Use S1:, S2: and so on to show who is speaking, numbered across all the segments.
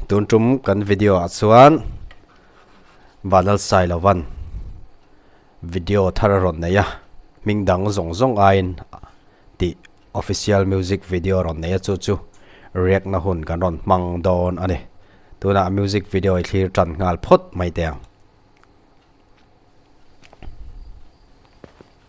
S1: Tun tum kan video ah chuan Banal sai lo van video thar a rawn nei a hming dang zawng zawng aiin tih official music video a rawn nei a chu chu riak na hun kan rawn hmang dawn a ni tunah music video i thlir tan nghal phawt mai te ang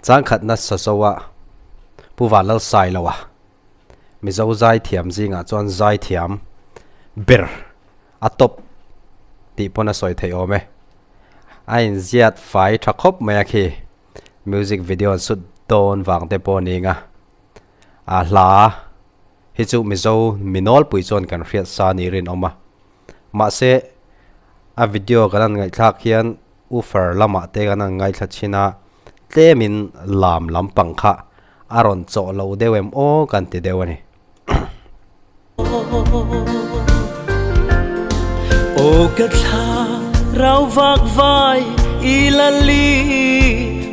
S1: Changkhat nasa Zoa Pu Vanlal Sailoa Mizo Zaithiam zingah chuan Zaithiam ber a tawp tih pawn a sawi theih awm e. A inziat fai tha khawp mai a khi, music video an sut dawn vang te pawh ning a. A hla hi chu Mizo mi nawlpui chuan kan hriatsa ni rinawm a. Mahse, a video kan han ngaihthlak hian U Far lamah te kan han ngaithla chin a, tlemin lam lampang kha a rawn chaw lo deuh em aw kan ti deuh a ni. Aw ka thla rau vak vai i la li.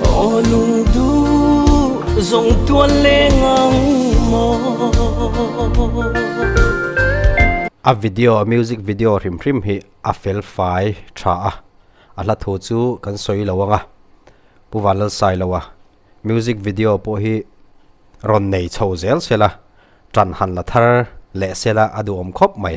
S1: Aw lung duh zawng tual leng ang maw. A video a music video hrim hrim hi a fel fai tha a, a hla thu chu kan sawi lo ang a, Pu Vanlalsai lo a music video pawh hi rawn nei chho zel zel a, tan han la thar leh sela a duhawm khawp mai.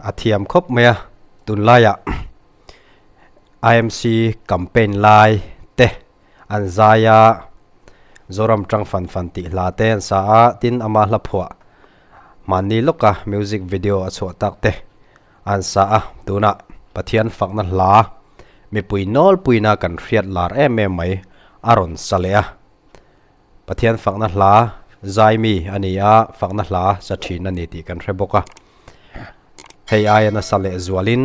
S1: A thiam khawp mai a, tunlaiah IMC campaign lai te an zai a, Zoram tang fan fan tih hla te an sa a, tin ama hla phuah mahni lawka music video a chhuah tak te an sa a, tunah Pathian fakna hla mipui nawlpuina kan hriat lar em em mai a rawn sa leh a. Pathian fakna hla zaimi a ni a, fakna hla za thin a ni tih kan hre bawk a. Hei aia nasa leh zualin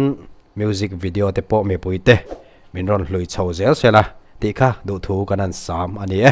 S1: music video te pawh mipui te min rawn hlui chho zel zel a tih kha duh thu kan an sam a ni e.